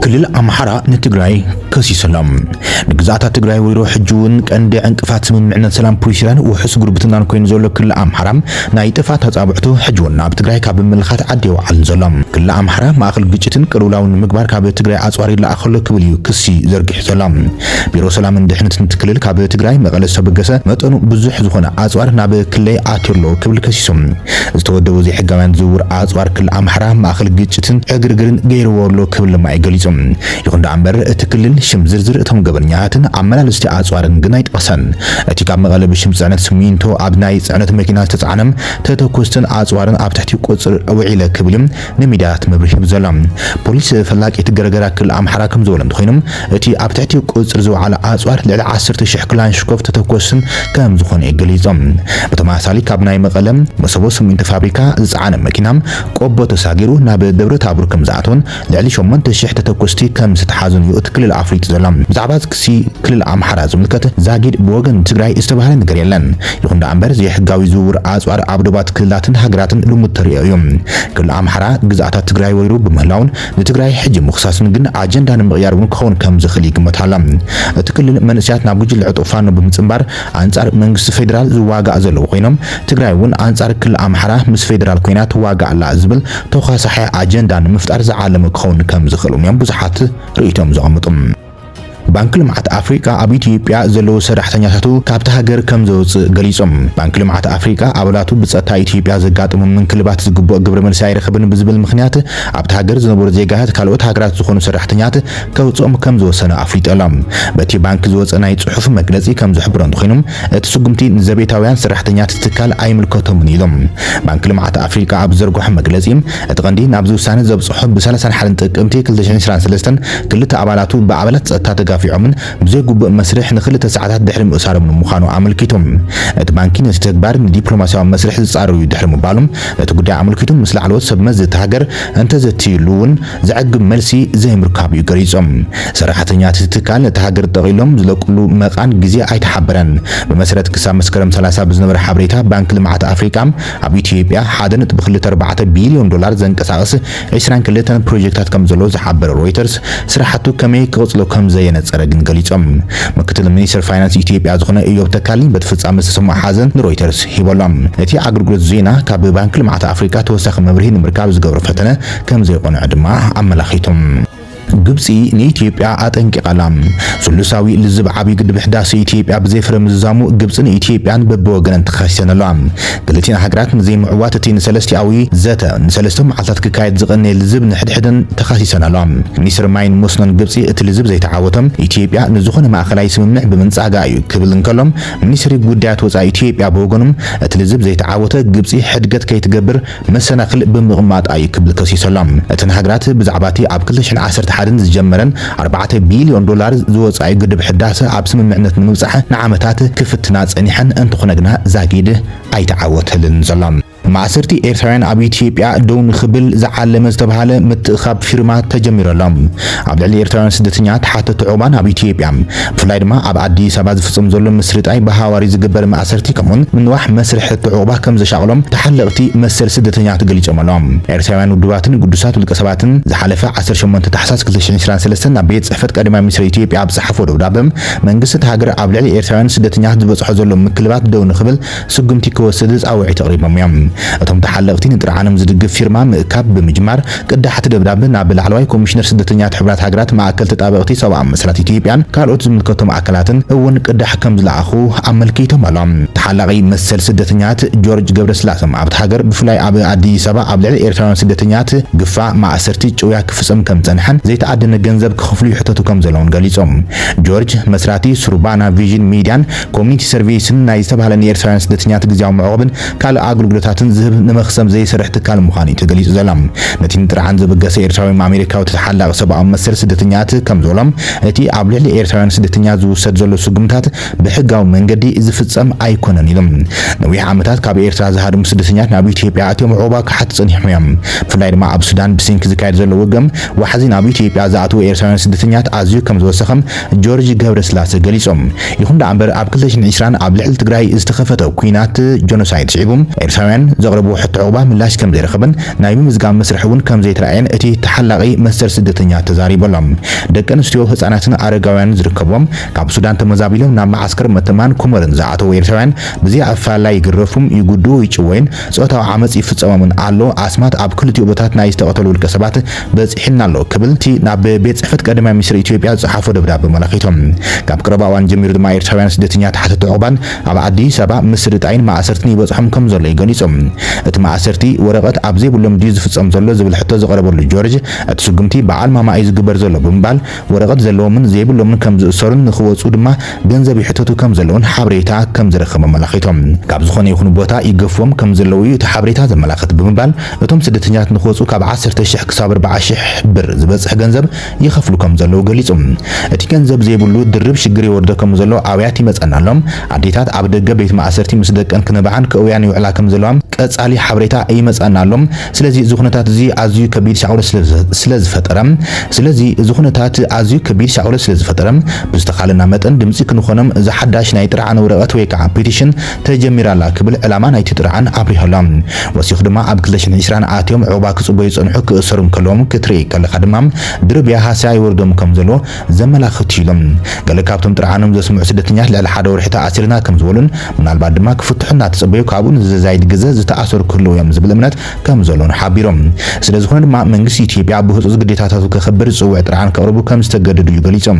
ክልል ኣምሓራ ንትግራይ ከሲሱ ኣሎ። ንግዝኣታት ትግራይ ወይሮ ሕጂ እውን ቀንዲ ዕንቅፋት ስምምዕነት ሰላም ፕሪቶርያን ውሑስ ጉርብትናን ኮይኑ ዘሎ ክልል ኣምሓራ ናይ ጥፍኣት ኣጻብዕቱ ሕጂ እውን ናብ ትግራይ ካብ ምምልኻት ዓዲ የውዓልን ዘሎ። ክልል ኣምሓራ ማእኸል ግጭትን ቅልውላውን ንምግባር ካብ ትግራይ ኣጽዋር ይለኣኽ ኣሎ ክብል እዩ ክሲ ዘርጊሑ ዘሎ። ቢሮ ሰላምን ድሕነትን እቲ ክልል ካብ ትግራይ መቐለ ዝተበገሰ መጠኑ ብዙሕ ዝኾነ ኣጽዋር ናብ ክልለይ ኣትዩ ኣሎ ክብል ከሲሱ። ዝተወደቡ ዘይሕጋውያን ዝውውር ኣጽዋር ክልል ኣምሓራ ማእከል ግጭትን ዕግርግርን ገይርዎ ኣሎ ክብል ድማ እዩ ገሊጹ። ይኹን ደኣ እምበር እቲ ክልል ሽም ዝርዝር እቶም ገበነኛታትን ኣመላልስቲ ኣጽዋርን ግን ኣይጠቐሰን። እቲ ካብ መቐለ ብሽም ጽዕነት ስሚንቶ ኣብ ናይ ጽዕነት መኪና ዝተጻዕነ ተተኮስትን ኣጽዋርን ኣብ ትሕቲ ቁጽጽር ውዒለ ክብል ንሚድያታት መብርሂ ሂቡ ዘሎ ፖሊስ ፈላቂት ገረገራ ክልል ኣምሓራ ከምዝበሎ እንተኾይኑ እቲ ኣብ ትሕቲ ቁፅፅር ዝወዓለ ኣፅዋር ልዕሊ ዓሰርተ ሽሕ ክላንሽኮቭ ተተኮስ ከምዝኾነ እዩ ገሊፁ። ብተመሳሳሊ ካብ ናይ መቐለ መሰቦ ስሚንቶ ፋብሪካ ዝፀዓነ መኪና ቆቦ ተሳጊሩ ናብ ደብረታቦር ከምዝኣተወን ልዕሊ ሸሞንተ ሽሕ ተተኮስቲ ከምዝተትሓዙን እዩ እቲ ክልል ኣፍሊጡ ዘሎ። ብዛዕባ ክሲ ክልል ኣምሓራ ዝምልከት ዛጊድ ብወገን ትግራይ ዝተባህለ ነገር የለን። ይኹን ደኣምበር ዘይሕጋዊ ዝውውር ኣፅዋር ኣብ ዶባት ክልላትን ሃገራትን ልሙድ ተርእዮ እዩ። ክልል ኣምሓራ ግዝኣታት ትግራይ ወሪሩ ብምህላዉን ንትግራይ ሕጂ ምኽሳስን ግን ኣጀንዳ ንምቕያር እውን ክኸውን ከምዝኽእል ይግመት ኣሎ። እቲ ክልል መንእሰያት ናብ ጉጅለ ዕጡቕ ፋኖ ብምፅምባር ኣንፃር መንግስቲ ፌደራል ዝዋጋእ ዘለዉ ኮይኖም ትግራይ እውን ኣንፃር ክልል ኣምሓራ ምስ ፌደራል ኮይና ትዋጋእ ኣላ ዝብል ተዃሳሒ ኣጀንዳ ንምፍጣር ዝዓለመ ክኸውን ከምዝኽእል እውን እዮም ብዙሓት ርእይቶኦም ዘቐምጡ። ባንኪ ልምዓት ኣፍሪቃ ኣብ ኢትዮጵያ ዘለዉ ሰራሕተኛታቱ ካብታ ሃገር ከምዘውጽእ ገሊጹ። ባንኪ ልምዓት ኣፍሪቃ ኣባላቱ ብጸጥታ ኢትዮጵያ ዘጋጠሞም ምንክልባት ዝግብኦ ግብረ መልሲ ኣይረኸበን ብዝብል ምኽንያት ኣብታ ሃገር ዝነበሩ ዜጋታት ካልኦት ሃገራት ዝኾኑ ሰራሕተኛት ከውጽኦም ከምዝወሰነ ኣፍሊጡ ኣሎ። በቲ ባንኪ ዝወጸ ናይ ጽሑፍ መግለጺ ከምዝሕብሮ እንተኾይኑ እቲ ስጉምቲ ንዘቤታውያን ሰራሕተኛት እቲ ትካል ኣይምልከቶምን ኢሉ ባንኪ ልምዓት ኣፍሪቃ ኣብ ዝዘርግሖ መግለጺ። እቲ ቀንዲ ናብዚ ውሳነ ዘብጽሖ ብ ሰላሳን ሓደን ጥቅምቲ ክልተ ሽሕን ዕስራን ሰለስተን ክልተ ኣባላቱ ብኣባላት ጸጥታ ተጋፊዖምን ብዘይ ግቡእ መስርሕ ንክልተ ሰዓታት ድሕሪ ምእሳሮምን ምዃኑ ኣመልኪቱ። እቲ ባንኪ ነቲ ተግባር ንዲፕሎማስያዊ መስርሕ ዝጻረር'ዩ ድሕሪ ምባሉን ነቲ ጉዳይ ኣመልኪቱ ምስ ላዕለዎት ሰብ መዚ እታ ሃገር እንተዘትይሉ'ውን ዘዕግብ መልሲ ዘይምርካቡ'ዩ ገሊጹ። ሰራሕተኛት'ቲ ትካል ነታ ሃገር ጠቕሊሎም ዝለቅሉ መቓን ግዜ ኣይተሓበረን። ብመሰረት ክሳብ መስከረም ሰላሳ ብዝነበረ ሓበሬታ ባንኪ ልምዓት ኣፍሪቃ፣ ኣብ ኢትዮጵያ ሓደ ነጥቢ ክልተ ኣርባዕተ ቢልዮን ዶላር ዘንቀሳቕስ ዕስራን ክልተን ፕሮጀክታት ከምዘሎ ዝሓበረ ሮይተርስ፣ ስራሕቱ ከመይ ክቕጽሎ ከምዘየነጸረ ግን ገሊጾም። ምክትል ሚኒስተር ፋይናንስ ኢትዮጵያ ዝኾነ እዮብ ተካልኝ በቲ ፍጻመ ዝተሰምዖ ሓዘን ንሮይተርስ ሂቦ'ሎ። እቲ ኣገልግሎት ዜና ካብ ባንኪ ልምዓት ኣፍሪቃ ተወሳኺ መብርሂ ንምርካብ ዝገብሮ ፈተነ ከምዘይቆንዐ ድማ ኣመላኺቱ። ግብጺ ንኢትዮጵያ ኣጠንቂቓ'ላ። ስሉሳዊ ልዝብ ዓብይ ግድብ ሕዳሴ ኢትዮጵያ ብዘይፍረ ምዝዛሙ ግብጽን ኢትዮጵያን በብወገነን ተኻሲሰን ኣለዋ። ክልቲኣን ሃገራት ንዘይምዕዋት እቲ ንሰለስቲኣዊ ዘተ ንሰለስተ መዓልታት ክካየድ ዝቐነየ ልዝብ ንሕድሕደን ተኻሲሰን ኣለዋ። ሚኒስትሪ ማይን መስኖን ግብጺ እቲ ልዝብ ዘይተዓወቶ ኢትዮጵያ ንዝኾነ ማእኸላይ ስምምዕ ብምንጻጋ እዩ ክብል እንከሎ ሚኒስትሪ ጉዳያት ወጻኢ ኢትዮጵያ ብወገኑ እቲ ልዝብ ዘይተዓወተ ግብጺ ሕድገት ከይትገብር መሰናኽል ብምቕማጣ እዩ ክብል ከሲሱ ኣሎ። እተን ሃገራት ብዛዕባ'ቲ ኣብ ክልተ ሽሕን ዓሰርተ ሓደን ዝጀመረን ኣርባዕተ ቢልዮን ዶላር ዝወጽኣ'ዩ ግድብ ሕዳሰ ኣብ ስምምዕነት ንምብጻሕ ንዓመታት ክፍትና ጸኒሐን እንተኾነ ግና ዛጊድ ኣይተዓወተልንን ዘሎ። ማእሰርቲ ኤርትራውያን ኣብ ኢትዮጵያ ደው ንኽብል ዝዓለመ ዝተብሃለ ምትእኽኻብ ፊርማ ተጀሚሩ ኣሎ። ኣብ ልዕሊ ኤርትራውያን ስደተኛ ተሓተቲ ዑቕባ ናብ ኢትዮጵያ ብፍላይ ድማ ኣብ ኣዲስ ኣበባ ዝፍፀም ዘሎ ምስርጣይ ብሃዋሪ ዝግበር ማእሰርቲ ከምኡውን ምንዋሕ መስርሕ ሕቶ ዑቕባ ከም ዘሻቕሎም ተሓለቕቲ መሰል ስደተኛታት ገሊፆም ኣለው። ኤርትራውያን ውድባትን ግዱሳት ውልቀ ሰባትን ዝሓለፈ ዓሰርተ ሸሞንተ ታሕሳስ ክልተ ሺሕን ዕስራን ሰለስተን ናብ ቤት ፅሕፈት ቀዳማይ ሚኒስትር ኢትዮጵያ ኣብ ዝፀሓፍዎ ደብዳበ መንግስቲ እታ ሃገር ኣብ ልዕሊ ኤርትራውያን ስደተኛታት ዝበፅሖ ዘሎ ምክልባት ደው ንክብል ስጉምቲ ክወስድ ጻውዒት ኣቕሪቦም እዮም። እቶም ተሓለቕቲ ንጥርዓኖም ዝድግፍ ፊርማ ምእካብ ብምጅማር ቅዳሕቲ ደብዳብ ናብ ላዕለዋይ ኮሚሽነር ስደተኛት ሕቡራት ሃገራት ማእከል ተጣበቕቲ ሰብኣዊ መሰላት ኢትዮጵያን ካልኦት ዝምልከቶም ኣካላትን እውን ቅዳሕ ከምዝለኣኹ ኣመልኪቶም ኣሎም። ተሓላቒ መሰል ስደተኛት ጆርጅ ገብረስላሰም ኣብታ ሃገር ብፍላይ ኣብ ኣዲስ ኣበባ ኣብ ልዕሊ ኤርትራውያን ስደተኛት ግፋ፣ ማእሰርቲ፣ ጭውያ ክፍጸም ከምዝጸንሐን ዘይተኣደነ ገንዘብ ክኽፍሉ ይሕተቱ ከምዘለውን ገሊጹ። ጆርጅ መስራቲ ሱርባና ቪዥን ሚድያን ኮሚኒቲ ሰርቪስን ናይ ዝተባህለ ንኤርትራውያን ስደተኛት ግዝያዊ መዕቖብን ካልእ ኣግልግሎታትን ዝህብ ንመክሰብ ዘይሰርሕ ትካል ምዃኑ እዩ ተገሊጹ ዘሎ። ነቲ ንጥርዓን ዘበገሰ ኤርትራዊ ኣሜሪካዊ ተሓላቒ ሰብኣዊ መሰል ስደተኛት ከም ዝበሎ እቲ ኣብ ልዕሊ ኤርትራውያን ስደተኛት ዝውሰድ ዘሎ ስጉምታት ብሕጋዊ መንገዲ ዝፍጸም ኣይኮነን ኢሉ። ነዊሕ ዓመታት ካብ ኤርትራ ዝሃድሙ ስደተኛት ናብ ኢትዮጵያ ኣትዮም ዑቕባ ክሓቱ ጸኒሖም እዮም። ብፍላይ ድማ ኣብ ሱዳን ብስንኪ ዝካየድ ዘሎ ውግእ ዋሕዚ ናብ ኢትዮጵያ ዝኣትዉ ኤርትራውያን ስደተኛት ኣዝዩ ከም ዝወሰኸ ጆርጅ ገብረስላሰ ገሊጹ። ይኹን ደኣ እምበር ኣብ ክልተ ሽሕን ዕስራን ኣብ ልዕሊ ትግራይ ዝተኸፈተ ኲናት፣ ጆኖሳይድ፣ ስዒቡ ኤርትራውያን ዘቕረብዎ ሕቶ ዑቕባ ምላሽ ከምዘይረኸበን ናይ ምምዝጋብ መስርሕ እውን ከምዘይተራእየን እቲ ተሓላቒ መሰል ስደተኛ ተዛሪቡ ኣሎ። ደቂ ኣንስትዮ፣ ህጻናትን ኣረጋውያንን ዝርከብዎም ካብ ሱዳን ተመዛቢሎም ናብ መዓስከር መተማን ኩመርን ዝኣተዉ ኤርትራውያን ብዘይ ኣፈላላይ ይግረፉም፣ ይጉድኡ፣ ይጭወዩን ጾታዊ ዓመጽ ይፍጸሞምን ኣሎ። ኣስማት ኣብ ክልቲኡ ቦታት ናይ ዝተቐተሉ ውልቀሰባት በጺሑና ኣሎ ክብል እቲ ናብ ቤት ጽሕፈት ቀዳማይ ሚኒስትር ኢትዮጵያ ዝጸሓፎ ደብዳበ ኣመላኺቱ። ካብ ቀረባ እዋን ጀሚሩ ድማ ኤርትራውያን ስደተኛ ተሓተቲ ዑቕባን ኣብ ኣዲስ ኣበባ ምስርጣይን ማእሰርትን ይበጽሖም ከምዘሎ እዩ ገሊጹ። እቲ ማእሰርቲ ወረቐት ኣብ ዘይብሎም ድዩ ዝፍጸም ዘሎ ዝብል ሕቶ ዝቐረበሉ ጆርጅ እቲ ስጉምቲ ብዓል ማማ እዩ ዝግበር ዘሎ ብምባል ወረቐት ዘለዎምን ዘይብሎምን ከም ዝእሰሩን ንኽወጽኡ ድማ ገንዘብ ይሕተቱ ከም ዘለዉን ሓበሬታ ከም ዝረኸቡ ኣመላኺቶም። ካብ ዝኾነ ይኹን ቦታ ይገፍዎም ከም ዘለዉ እዩ እቲ ሓበሬታ ዘመላኽት ብምባል እቶም ስደተኛታት ንኽወጽኡ ካብ ዓሰርተ ሽሕ ክሳብ ኣርብዓ ሽሕ ብር ዝበጽሕ ገንዘብ ይኸፍሉ ከም ዘለዉ ገሊጹ። እቲ ገንዘብ ዘይብሉ ድርብ ሽግር የወርዶ ከም ዘሎ ኣውያት ይመጸና ኣሎ። ኣዴታት ኣብ ደገ ቤት ማእሰርቲ ምስ ደቀን ክነብዓን ክእውያን ይውዕላ ከም ዘለዋ ቀጻሊ ሓበሬታ ይመጸኣና ኣሎ። ስለዚ እዚ ኩነታት እዚ ኣዝዩ ከቢድ ሳዕውረት ስለ ዝፈጠረ ስለዚ እዚ ኩነታት ኣዝዩ ከቢድ ሳዕውረት ስለ ዝፈጠረ ብዝተኻለና መጠን ድምጺ ክንኾኖም እዛ ሓዳሽ ናይ ጥርዓን ወረቐት ወይ ከዓ ፒቲሽን ተጀሚራ ኣላ ክብል ዕላማ ናይቲ ጥርዓን ኣብሪሁ ኣሎ። ወሲኹ ድማ ኣብ ክልተ ሽሕን ዕስራን ኣትዮም ዑቕባ ክጽበዩ ዝጸንሑ ክእሰሩ እንከለዎም ክትርኢ ከለኻ ድማ ድርብያ ሃስያ ይወርዶም ከም ዘሎ ዘመላኽት እዩ ኢሎም። ገለ ካብቶም ጥርዓኖም ዘስምዑ ስደተኛታት ልዕሊ ሓደ ወርሒ ተኣሲርና ከም ዝበሉን ምናልባት ድማ ክፍትሑ እናተጸበዩ ካብኡ ንዘዛይድ ግዘ ዝተኣሰሩ ክህልዉ እዮም ዝብል እምነት ከም ዘሎን ሓቢሮም። ስለ ዝኾነ ድማ መንግስቲ ኢትዮጵያ ብህጹጽ ግዴታታቱ ከኽብር ዝጽውዕ ጥርዓን ከቕርቡ ከም ዝተገደዱ እዩ ገሊጾም።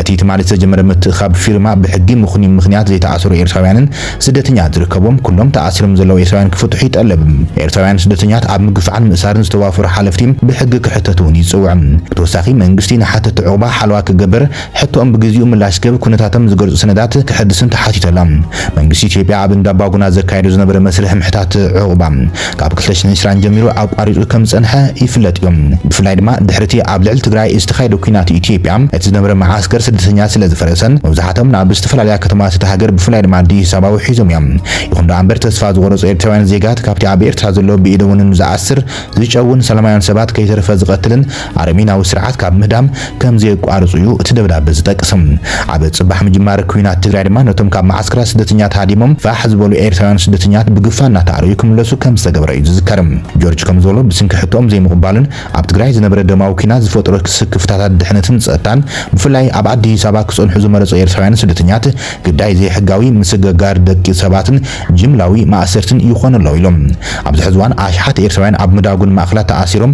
እቲ ትማሊ ዝተጀመረ ምትእኽኻብ ፊርማ ብሕጊ ምኽኑይ ምኽንያት ዘይተኣሰሩ ኤርትራውያንን ስደተኛት ዝርከብዎም ኩሎም ተኣሲሮም ዘለዉ ኤርትራውያን ክፍትሑ ይጠልብ። ኤርትራውያን ስደተኛት ኣብ ምግፋዕን ምእሳርን ዝተዋፈሩ ሓለፍቲ ብሕጊ ክሕተቱ እውን ይጽውዕ። ብተወሳኺ መንግስቲ ንሓተቲ ዑቕባ ሓለዋ ክገብር፣ ሕቶኦም ብግዚኡ ምላሽ ክህብ፣ ኩነታቶም ዝገልጹ ሰነዳት ክሕድስን ተሓቲቱ ኣሎ። መንግስቲ ኢትዮጵያ ኣብ እንዳባጉና ዘካይዶ ዝነበረ መስርሕ ምሕታት ዑቕባ፣ ካብ ክልተ ሽሕን ዕስራን ጀሚሩ ኣቋሪጹ ከም ዝጸንሐ ይፍለጥ እዩ። ብፍላይ ድማ ድሕሪ'ቲ ኣብ ልዕሊ ትግራይ ዝተኻየደ ኲናት ኢትዮጵያ እቲ ዝነበረ መዓስከር ስደተኛታት ስለ ዝፈረሰን መብዛሕትኦም ናብ ዝተፈላለያ ከተማታት እታ ሃገር ብፍላይ ድማ ኣዲስ ኣበባ ውሒዞም እዮም። ይኹን ደኣ እምበር ተስፋ ዝቖረጹ ኤርትራውያን ዜጋት ካብቲ ኣብ ኤርትራ ዘሎ ብኢደወንን ዝኣስር፣ ዝጨውን፣ ሰላማውያን ሰባት ከይተረፈ ዝቐትልን፣ ኣረሚናዊ ስርዓት ካብ ምህዳም ከም ዘየቋርጹ እዩ እቲ ደብዳበ ዝጠቅስ። ኣብ ጽባሕ ምጅማር ኩናት ትግራይ ድማ ነቶም ካብ መዓስከራት ስደተኛት ሃዲሞም ፋሕ ዝበሉ ኤርትራውያን ስደተኛት ብግፋ እናተኣረዩ ክምለሱ ከም ዝተገብረ እዩ ዝዝከር። ጆርጅ ከም ዝበሎ ብስንኪ ሕቶኦም ዘይምቕባልን ኣብ ትግራይ ዝነበረ ደማዊ ኩናት ዝፈጥሮ ስክፍታታት ድሕነትን ጸጥታን ብፍላይ ኣብ ኣዲስ ኣበባ ክጸንሑ ዝመረጹ ኤርትራውያን ስደተኛት ግዳይ ዘይሕጋዊ ምስግጋር ደቂ ሰባትን ጅምላዊ ማእሰርትን ይኾኑ ኣለዉ ኢሎም። ኣብዚ ሕዚ እዋን ኣሽሓት ኤርትራውያን ኣብ ምዳጉን ማእከላት ተኣሲሮም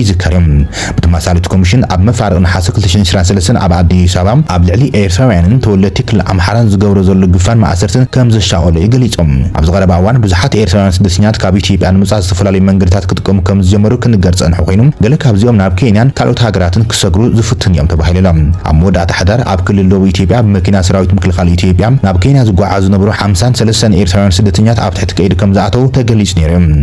ይዝከርም። ብተመሳሳሊ እቲ ኮሚሽን ኣብ መፋርቕ ነሓሰ ክልተ ሺሕን ዕስራን ሰለስተን ኣብ ኣዲስ ኣበባ ኣብ ልዕሊ ኤርትራውያንን ተወለድቲ ክልል ኣምሓራን ዝገብሮ ዘሎ ግፋን መኣሰርትን ከምዘሻቐሎ እዩ ገሊጹ። ኣብዚ ቀረባ እዋን ብዙሓት ኤርትራውያን ስደተኛታት ካብ ኢትዮጵያ ንምውጻእ ዝተፈላለዩ መንገድታት ክጥቀሙ ከምዝጀመሩ ክንገር ዝጸንሑ ኮይኑ ገለ ካብዚኦም ናብ ኬንያን ካልኦት ሃገራትን ክሰግሩ ዝፍትኑ እዮም ተባሂሉ ኣሎ። ኣብ መወዳእታ ሕዳር ኣብ ክልል ደቡብ ኢትዮጵያ ብመኪና ሰራዊት ምክልኻል ኢትዮጵያ ናብ ኬንያ ዝጓዓዙ ዝነበሩ ሓምሳን ሰለስተን ኤርትራውያን ስደተኛታት ኣብ ትሕቲ ቀይዲ ከምዝኣተዉ ተገሊጹ ነይሩ እዩ።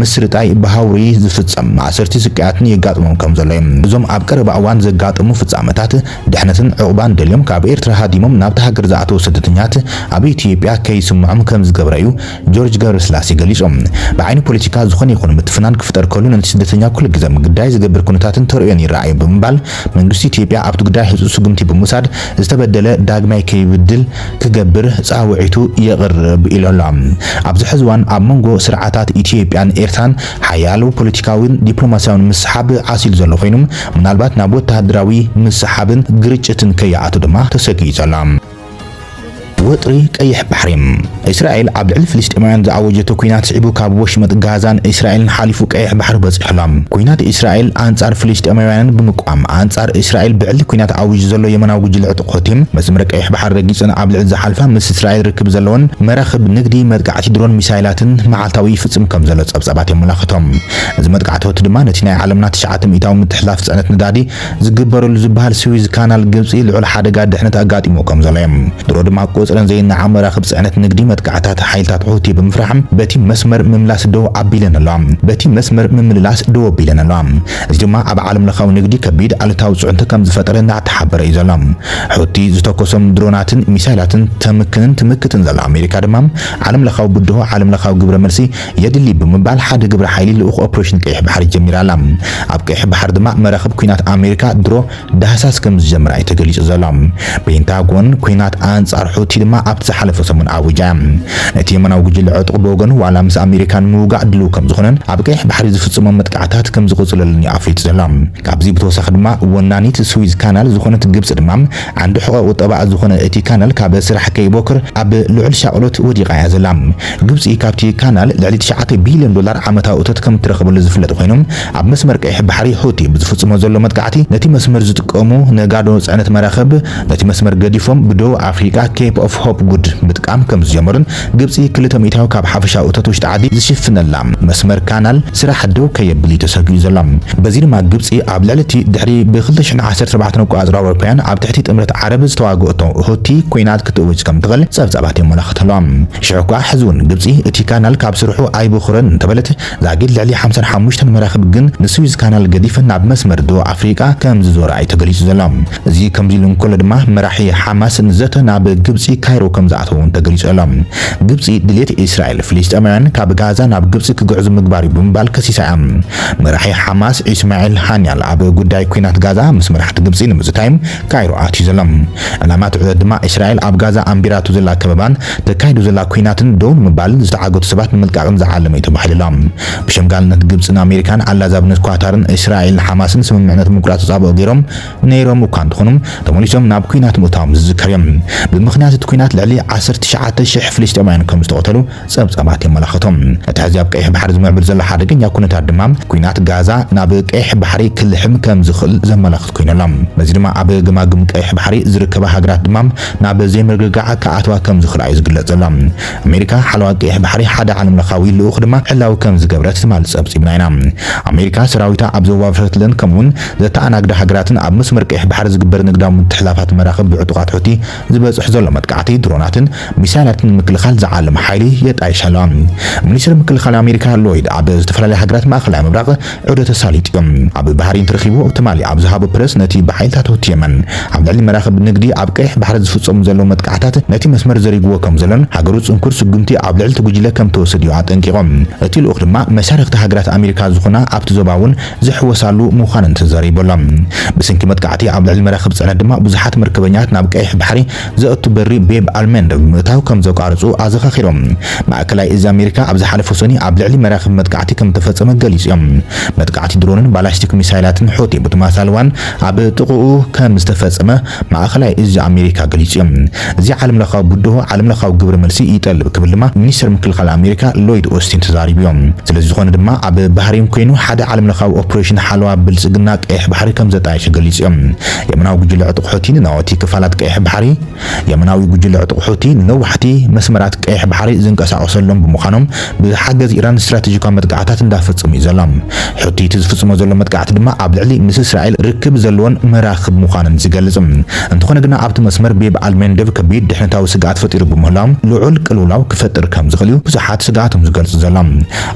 ምስርጣይ ብሃውሪ ዝፍጸም ማእሰርቲ ስቅያትን የጋጥሞም ከም ዘሎ እዩ። እዞም ኣብ ቀረባ እዋን ዘጋጠሙ ፍጻመታት፣ ድሕነትን ዑቕባን ደልዮም ካብ ኤርትራ ሃዲሞም ናብታ ሃገር ዝኣተዉ ስደተኛት ኣብ ኢትዮጵያ ከይስምዖም ከም ዝገብረ እዩ ጆርጅ ገብረስላሴ ገሊጹ። ብዓይኒ ፖለቲካ ዝኾነ ይኹን ምትፍናን ክፍጠር ከሉ ነቲ ስደተኛ ኩሉ ግዘ ግዳይ ዝገብር ኩነታትን ተርእዮን ይረኣ'ዩ ብምባል መንግስቲ ኢትዮጵያ ኣብቲ ጉዳይ ህጹጽ ስጉምቲ ብምውሳድ ዝተበደለ ዳግማይ ከይብድል ክገብር ጻውዒቱ የቕርብ ኢሉ ኣሎ። ኣብዚ ሕዚ እዋን ኣብ መንጎ ስርዓታት ኢትዮጵያን ኤርትራን ሓያሎ ፖለቲካዊን ዲፕሎማሲያዊን ምስሕሓብ ዓሲሉ ዘሎ ኮይኑ ምናልባት ናብ ወተሃደራዊ ምስሕሓብን ግርጭትን ከይኣቱ ድማ ተሰጊኡ ዘሎ። ወጥሪ ቀይሕ ባሕሪ፣ እስራኤል ኣብ ልዕሊ ፍልስጤማውያን ዝኣወጀቶ ኲናት ስዒቡ ካብ ወሽመጥ ጋዛን እስራኤልን ሓሊፉ ቀይሕ ባሕሪ በጺሑ ኣሎ። ኲናት እስራኤል ኣንጻር ፍልስጤማውያንን ብምቅዋም ኣንጻር እስራኤል ብዕሊ ኲናት ኣዊጁ ዘሎ የመናዊ ጉጅለ ሑቲ፣ መስመር ቀይሕ ባሕሪ ረጊጸን ኣብ ልዕሊ ዝሓልፋ ምስ እስራኤል ርክብ ዘለወን መራኽብ ንግዲ መጥቃዕቲ ድሮን ሚሳይላትን መዓልታዊ ይፍጽም ከም ዘሎ ጸብጻባት የመላኽቱ። እዚ መጥቃዕቲ ሑቲ ድማ ነቲ ናይ ዓለምና ትሽዓተ ሚእታዊ ምትሕልላፍ ጽዕነት ነዳዲ ዝግበረሉ ዝበሃል ስዊዝ ካናል ግብጺ ልዑል ሓደጋ ድሕነት ኣጋጢምዎ ከም ዘሎ'ዩ። ድሮ ድማ ቁጽረን ዘይነዓቕ መራኽብ ጽዕነት ንግዲ መጥቃዕትታት ሓይልታት ሑቲ ብምፍራሕ በቲ መስመር ምምላስ ደው ኣቢለን ኣለዋ በቲ መስመር ምምልላስ ደው ኣቢለን ኣለዋ። እዚ ድማ ኣብ ዓለምለኻዊ ንግዲ ከቢድ ኣሉታዊ ፅዕንቶ ከምዝፈጠረ እናተሓበረ እዩ ዘሎ። ሑቲ ዝተኮሶም ድሮናትን ሚሳይላትን ተምክንን ትምክትን ዘላ ኣሜሪካ ድማ ዓለምለኻዊ ብድሆ ዓለምለኻዊ ግብረ መልሲ የድሊ ብምባል ሓደ ግብረ ሓይሊ ልኡኽ ኦፕሬሽን ቀይሕ ባሕሪ ጀሚራ ኣላ። ኣብ ቀይሕ ባሕሪ ድማ መራኽብ ኲናት ኣሜሪካ ድሮ ዳህሳስ ከም ዝጀመራ እዩ ተገሊጹ ዘሎ። ፔንታጎን፣ ኲናት ኣንጻር ሑቲ ድማ ኣብቲ ዝሓለፈ ሰሙን ኣዊጃ እያ። እቲ የማናዊ ጉጅለ ዕጡቕ ብወገኑ ዋላ ምስ ኣሜሪካ ንምውጋእ ድሉው ከም ዝኾነን ኣብ ቀይሕ ባሕሪ ዝፍጽሞም መጥቃዕታት ከም ዝቕጽለሉን እዩ ኣፍሊጡ ዘሎ። ካብዚ ብተወሳኺ ድማ ወናኒት ስዊዝ ካናል ዝኾነት ግብጺ ድማ ዓንዲ ሕቖ ቁጠባኣ ዝኾነ እቲ ካናል ካብ ስራሕ ከይቦክር ኣብ ልዑል ሻቕሎት ወዲቓ እያ ዘላ። ግብጺ ካብቲ ካናል ልዕሊ ትሽዓተ ቢልዮን ዶላር ዓመታዊ እቶት ከም እትረኽበሉ ዝፍለጥ ኮይኑ፣ ኣብ መስመር ቀይሕ ባሕሪ ሑቲ ብዝፍጽሞ ዘሎ መጥቃዕቲ ነቲ መስመር ዝጥቀሙ ነጋዶ ጽዕነት መራኽብ ነቲ መስመር ገዲፎም ብደቡብ ኣፍሪቃ ኬፕ ኦፍ ሆፕ ጉድ ምጥቃም ከምዝጀመሩን ግብጺ ክልተ ሚእታዊ ካብ ሓፈሻዊ እቶት ውሽጢ ዓዲ ዝሽፍነላ መስመር ካናል ስራሕ ደው ከየብል'ዩ ተሰጊኡ ዘሎ። በዚ ድማ ግብጺ ኣብ ልዕሊ'ቲ ድሕሪ ብ ክልተ ሽሕን ዓሰርተ ኣርባዕተን ኣቆጻጽራ ኣውሮፓውያን ኣብ ትሕቲ ጥምረት ዓረብ ዝተዋገኦቶ ሑቲ ኲናት ክትእውጅ ከምትኽእል ጸብጻባት የመላኽት ኣሎ። ሽሕ'ኳ ሕዚ'ውን ግብጺ እቲ ካናል ካብ ስርሑ ኣይበኹረን እንተበለት፣ ዛጊድ ልዕሊ ሓምሳን ሓሙሽተን መራኽብ ግን ንስዊዝ ካናል ገዲፈን ናብ መስመር ዶብ ኣፍሪቃ ከም ዝዞራ'ዩ ተገሊጹ ዘሎ። እዚ ከምዚ ኢሉ እንከሎ ድማ መራሒ ሓማስ ንዘተ ናብ ግብጺ ካይሮ ከም ዝኣተወ'ውን ተገሊጹ ኣሎ። ግብጺ ድልየት እስራኤል ፍልስጤማውያን ካብ ጋዛ ናብ ግብጺ ክግዕዙ ምግባር'ዩ ብምባል ከሲሳ'ያ። መራሒ ሓማስ ኢስማዒል ሃንያል ኣብ ጉዳይ ኲናት ጋዛ ምስ መራሕቲ ግብጺ ንምዝታይ ካይሮ ኣትዩ ዘሎ። ዕላማ እቲ ዑደት ድማ እስራኤል ኣብ ጋዛ ኣንቢራቶ ዘላ ከበባን ተካይዶ ዘላ ኲናትን ደው ንምባል ዝተዓገቱ ሰባት ንምልቃቕን ዝዓለመ'ዩ ተባሂሉ'ሎ። ብሸምጋልነት ግብጽን ኣሜሪካን ዓላዛብነት ኳታርን እስራኤልን ሓማስን ስምምዕነት ምቁራጽ ተጻብኦ ገይሮም ነይሮም እኳ እንተኾኑ ተመሊሶም ናብ ኲናት ምእታዎም ዝዝከር'ዩ። ብምኽንያት እቲ ኲናት ልዕሊ ዓሰርተ ትሽዓተ ሽሕ ፍልስጤማውያን ከም ዝተቐተሉ ጸብጻባት የመላኽቱ። እቲ ሕዚ ኣብ ቀይሕ ባሕሪ ዝምዕብል ዘሎ ሓደገኛ ኩነታት ድማ ኲናት ጋዛ ናብ ቀይሕ ባሕሪ ክልሕም ከም ዝኽእል ዘመላኽት'ዩ። ኮይኑ ኣሎ። በዚ ድማ ኣብ ገማግም ቀይሕ ባሕሪ ዝርከባ ሃገራት ድማ ናብ ዘይምርግጋዕ ክኣትዋ ከም ዝኽእላ'ዩ ዝግለጽ ዘሎ። ኣሜሪካ ሓለዋ ቀይሕ ባሕሪ ሓደ ዓለምለኻዊ ልኡኽ ድማ ዕላዊ ከም ዝገብረት ትማሊ ጸብጺብና ኢና። ኣሜሪካ ሰራዊታ ኣብ ዘዋፈረትለን ከምኡ'ውን ዘተኣናግዳ ሃገራትን ኣብ መስመር ቀይሕ ባሕሪ ዝግበር ንግዳዊ ምትሕልላፋት መራኽብ ብዕጡቓት ሑቲ ዝበጽሕ ዘሎ መጥቃዕቲ ድሮናትን ሚሳይላትን ንምክልኻል ዝዓለመ ሓይሊ የጣይሽ ኣሎ። ሚኒስተር ምክልኻል ኣሜሪካ ሎይድ ኣብ ዝተፈላለያ ሃገራት ማእከላይ ምብራቕ፣ ዑደ ተሳሊጡ ኣብ ባህሪ እንትረኺቦ ትማሊ ኣብ ዝሃቦ ፕረስ ነቲ ብሓይልታት ሁቲ የመን ኣብ ልዕሊ መራኽብ ንግዲ ኣብ ቀይሕ ባሕሪ ዝፍጸሙ ዘለዉ መጥቃዕታት ነቲ መስመር ዘሪጉዎ ከምዘሎን ሃገሩ ጽንኩር ስጉምቲ ኣብ ልዕሊ'ቲ ጉጅለ ከምትወስድ'ዩ ኣጠንቂቑ። እቲ ልኡኽ ድማ መሻርኽቲ ሃገራት ኣሜሪካ ዝኾና ኣብቲ ዞባ'ውን ዝሕወሳሉ ምዃነን ተዛሪቡ'ሎ። ብስንኪ መጥቃዕቲ ኣብ ልዕሊ መራኽብ ጽዕነት ድማ ብዙሓት መርከበኛታት ናብ ቀይሕ ባሕሪ ዘእቱ በሪ ቤብ ኣልመንድ ምእታው ከም ዘቋረጹ ኣዘኻኺሮም፣ ማእከላይ እዝ ኣሜሪካ ኣብ ዝሓለፉ ሰኑይ ኣብ ልዕሊ መራኽብ መጥቃዕቲ ከም እተፈጸመ ገሊጹ እዮም። መጥቃዕቲ ድሮንን ባላስቲክ ሚሳይላትን ሑቲ ብተመሳሳሊ እዋን ኣብ ጥቕኡ ከም ዝተፈጸመ ማእከላይ እዝ ኣሜሪካ ገሊጹ እዩ። እዚ ዓለምለኻዊ ብድሆ ዓለምለኻዊ ግብረ መልሲ ይጠልብ ክብል ድማ ሚኒስተር ምክልኻል ኣሜሪካ ሎይድ ኦስቲን ተዛሪቡ እዩ። ስለዝኾነ ድማ ኣብ ባህሬን ኮይኑ ሓደ ዓለምለኻዊ ኦፕሬሽን ሓለዋ ብልጽግና ቀይሕ ባሕሪ ከም ዘጣየሸ ገሊጹ እዩ። የመናዊ ጉጅለ ዕጡቕ ሑቲ ንናወቲ ክፋላት ቀይሕ ባሕሪ፣ የመናዊ ጉጅለ ዕጡቕ ሑቲ ንነዋሕቲ መስመራት ቀይሕ ባሕሪ ዝንቀሳቐሰሎም ብምዃኖም ብሓገዝ ኢራን ስትራቴጂካዊ መጥቃዕታት እንዳፈጸሙ እዩ ዘሎ። ሑቲ እቲ ዝፍጽሞ ዘሎ መጥቃዕቲ ድማ ኣብ ልዕሊ ምስ እስራኤል ርክብ ዘለወን መራኽብ ምዃነን ዝገልጽ እንተኾነ ግና ኣብቲ መስመር ቤብ ኣል መንደብ ከቢድ ድሕነታዊ ስግኣት ፈጢሩ ብምህላው ልዑል ቅልውላው ክፈጥር ከምዝኽእል እዩ ብዙሓት ስግኣቶም ዝገልጹ ዘሎም።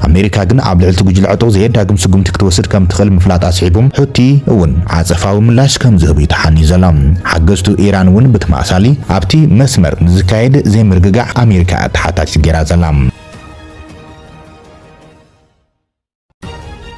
ኣሜሪካ ግን ኣብ ልዕሊ'ቲ ጉጅለ ዕጡቕ ዘየዳግም ስጉምቲ ክትወስድ ከም ትኽእል ምፍላጣ ኣስዒቡ፣ ሑቲ እውን ዓጸፋዊ ምላሽ ከም ዝህብ'ዩ ተሓንዩ ዘሎ። ሓገዝቱ ኢራን እውን ብተመሳሳሊ ኣብቲ መስመር ንዝካየድ ዘይምርግጋዕ ኣሜሪካ'ያ ተሓታቲት ገይራ ዘላ።